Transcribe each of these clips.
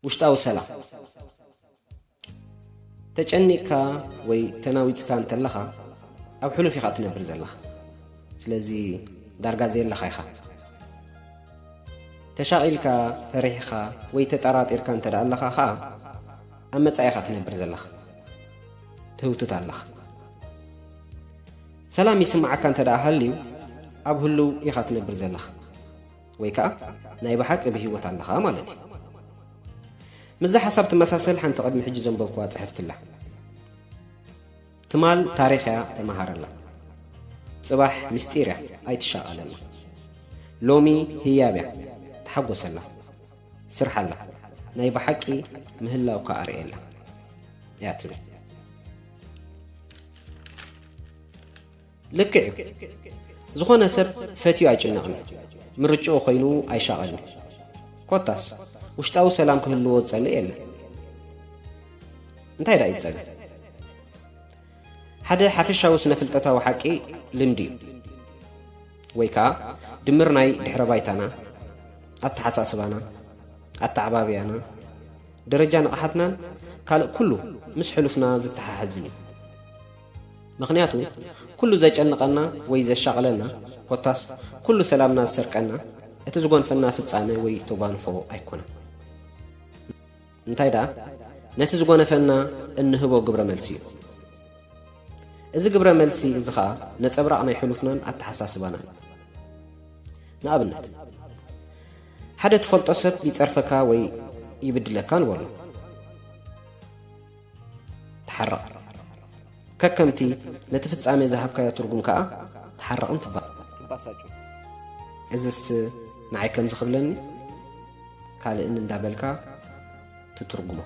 ውሽጣዊ ሰላም ተጨኒቕካ ወይ ተናዊፅካ እንተለኻ ኣብ ሕሉፍ ኢኻ እትነብር ዘለኻ ስለዚ ዳርጋ ዘየለኻ ኢኻ ተሻቒልካ ፈሪሕኻ ወይ ተጠራጢርካ እንተ ደኣ ኣለኻ ኸዓ ኣብ መጻኢ ኢኻ ትነብር ዘለኻ ትህውትት ኣለኻ ሰላም ይስምዓካ እንተ ደኣ ሃልዩ ኣብ ህሉው ኢኻ ትነብር ዘለኻ ወይ ከኣ ናይ ብሓቂ ብሂወት ኣለኻ ማለት እዩ። ምስዛ ሓሳብ ትመሳሰል ሓንቲ ቅድሚ ሕጂ ዘንበብኩዋ ጽሕፍቲ ኣላ። ትማል ታሪኽ እያ ተመሃረላ። ጽባሕ ምስጢር እያ ኣይትሻቐለላ። ሎሚ ህያብ እያ ተሓጎሰላ። ስርሓላ ናይ ብሓቂ ምህላውካ ኣርእየላ እያ ትብል። ልክዕ እዩ ዝኾነ ሰብ ፈትዩ ኣይጭነቕን ምርጭኡ ኮይኑ ኣይሻቐልን ኮታስ ውሽጣዊ ሰላም ክህልዎ ዝጸልእ የለን እንታይ ደኣ ይጸል ሓደ ሓፈሻዊ ስነ ፍልጠታዊ ሓቂ ልምዲ እዩ ወይ ከዓ ድምር ናይ ድሕረ ባይታና ኣተሓሳስባና ኣተዓባብያና ደረጃ ንቕሓትናን ካልእ ኩሉ ምስ ሕሉፍና ዝተሓሓዝን እዩ ምኽንያቱ ኩሉ ዘጨንቐና ወይ ዘሻቕለና ኮታስ ኩሉ ሰላምና ዝሰርቀና እቲ ዝጎንፈና ፍጻመ ወይ ተጓንፎ ኣይኮነን። እንታይ ደኣ ነቲ ዝጎነፈና እንህቦ ግብረ መልሲ እዩ። እዚ ግብረ መልሲ እዚ ኸኣ ነጸብራቕ ናይ ሕሉፍናን ኣተሓሳስባናን እዩ። ንኣብነት ሓደ ትፈልጦ ሰብ ይጸርፈካ ወይ ይብድለካ ንበሎ። ተሓረቕ ከከምቲ ነቲ ፍጻሜ ዝሃብካዮ ትርጉም ከኣ ተሓረቕን ትባሳጩ እዝስ ንዓይ ከምዚ ክብለኒ ካልእን እንዳበልካ ትትርጉሞ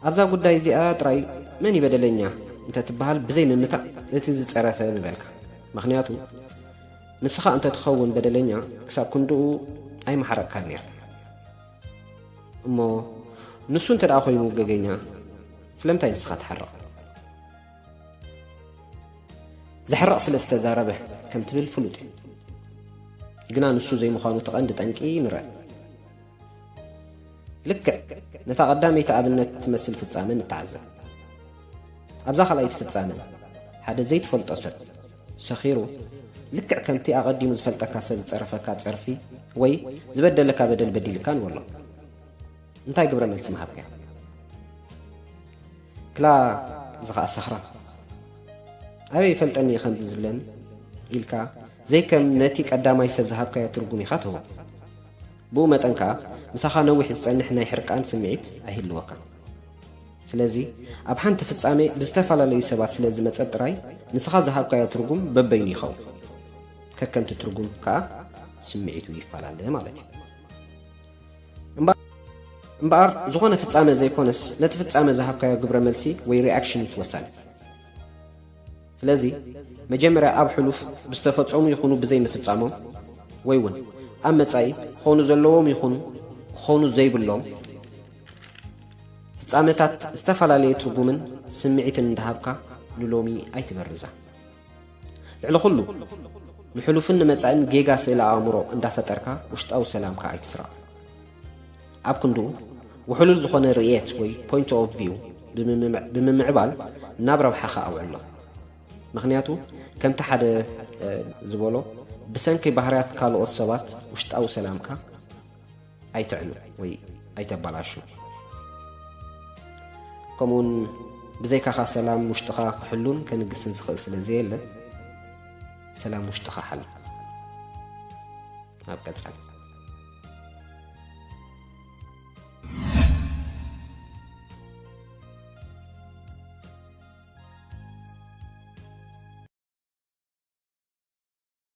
ኣብዛ ጉዳይ እዚኣ ጥራይ መን ይበደለኛ እንተ ትበሃል ብዘይ ምምታእ እቲ ዝጸረፈ ምበልካ ምክንያቱ ንስኻ እንተ ትኸውን በደለኛ ክሳብ ክንድኡ ኣይመሓረቕካን ነይር እሞ ንሱ እንተ ደኣ ኮይኑ ገገኛ ስለምንታይ ንስኻ ትሓርቕ? ዘሕርቕ ስለ ዝተዛረበ ከም ትብል ፍሉጥ እዩ። ግና ንሱ ዘይምዃኑ እቲ ቀንዲ ጠንቂ ንርእ። ልክዕ ነታ ቀዳመይቲ ኣብነት ትመስል ፍጻመ ንተዓዘብ። ኣብዛ ካልኣይቲ ፍጻመ ሓደ ዘይትፈልጦ ሰብ ሰኺሩ ልክዕ ከምቲ ኣቐዲሙ ዝፈልጠካ ሰብ ዝጸረፈካ ጸርፊ ወይ ዝበደለካ በደል በዲልካ ንበሎ። እንታይ ግብረ መልሲ ምሃብካዮ? ክላ እዚ ኸኣ ሰኽራም ኣበይ ይፈልጠኒ እዩ ከምዚ ዝብለኒ ኢልካ ዘይከም ነቲ ቀዳማይ ሰብ ዝሃብካዮ ትርጉም ኢኻ ትህቦ። ብኡ መጠን ከኣ ምሳኻ ነዊሕ ዝጸንሕ ናይ ሕርቃን ስምዒት ኣይህልወካን። ስለዚ ኣብ ሓንቲ ፍጻሜ ብዝተፈላለዩ ሰባት ስለ ዝመጸት ጥራይ ንስኻ ዝሃብካዮ ትርጉም በበይኑ ይኸውን። ከከምቲ ትርጉም ከኣ ስምዒቱ ይፈላለ ማለት እዩ። እምበኣር ዝኾነ ፍጻመ ዘይኮነስ ነቲ ፍጻመ ዝሃብካዮ ግብረ መልሲ ወይ ሪኣክሽን እዩ ወሳኒ። ስለዚ መጀመርያ ኣብ ሕሉፍ ብዝተፈጸሙ ይኹኑ ብዘይምፍጻሞም ወይ እውን ኣብ መጻኢ ክኾኑ ዘለዎም ይኹኑ ክኾኑ ዘይብሎም ፍጻመታት ዝተፈላለየ ትርጉምን ስምዒትን እንዳሃብካ ንሎሚ ኣይትበርዛ። ልዕሊ ኩሉ ንሕሉፍን ንመጻእን ጌጋ ስእለ ኣእምሮ እንዳፈጠርካ ውሽጣዊ ሰላምካ ኣይትስረቕ። ኣብ ክንድኡ ውሕሉል ዝኾነ ርእየት ወይ ፖይንት ኦፍ ቪው ብምምዕባል ናብ ረብሓኻ ኣውዕሎ። ምክንያቱ ከምቲ ሓደ ዝበሎ ብሰንኪ ባህርያት ካልኦት ሰባት ውሽጣዊ ሰላምካ ኣይተዕኑ ወይ ኣይተባላሹ ከምኡውን ብዘይካኻ ሰላም ውሽጥኻ ክሕሉን ከንግስን ዝኽእል ስለ ዘየለ ሰላም ውሽጥኻ ሓል ኣብ ቀጻሊ